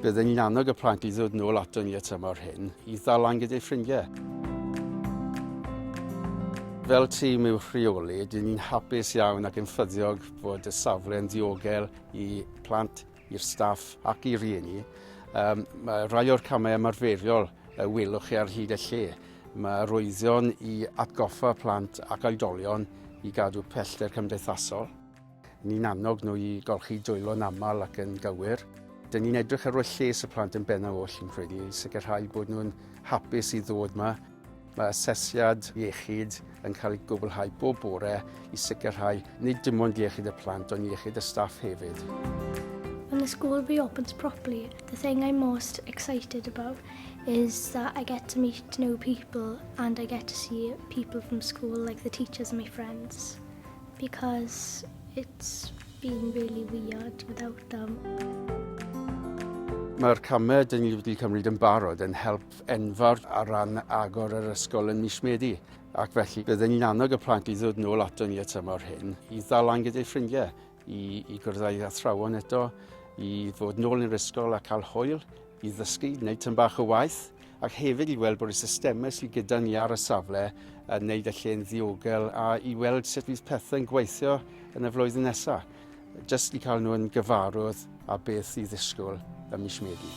Bydden ni'n annog y plant i ddod nôl ato ni y tymor hyn i ddalan gyda'i ffrindiau. Fel tîm i'w rheoli, dyn ni'n hapus iawn ac yn ffyddiog bod y safle yn ddiogel i plant, i'r staff ac i rieni. Um, mae rhai o'r camau ymarferiol y welwch chi ar hyd y lle. Mae roeddion i atgoffa plant ac oedolion i gadw pellter cymdeithasol. Ni'n annog nhw i golchi dwylo'n aml ac yn gywir. Dyn ni'n edrych ar ôl lles y plant yn bennaf oll yn credu, sicrhau bod nhw'n hapus i ddod yma. Mae asesiad iechyd yn cael ei gwblhau bob bore i sicrhau nid dim ond iechyd y plant ond iechyd y staff hefyd. When the school reopens properly, the thing I'm most excited about is that I get to meet new people and I get to see people from school like the teachers and my friends. Because it's been really weird without them. Mae'r camau dyn ni wedi cymryd yn barod yn help enfawr ar ran agor yr ysgol yn mis Medi. Ac felly byddwn ni'n annog y plant i ddod nôl ato ni y tymor hyn i ddalan gyda'i ffrindiau, i, i gwrdd â'i athrawon eto, i fod nôl yn yr ysgol a cael hwyl, i ddysgu, wneud tyn bach o waith, ac hefyd i weld bod y systemau sydd gyda ni ar y safle yn wneud y lle'n ddiogel a i weld sut fydd pethau'n gweithio yn y flwyddyn nesaf. Jyst i cael nhw'n gyfarwydd a beth i ddisgwyl ym mis Medi.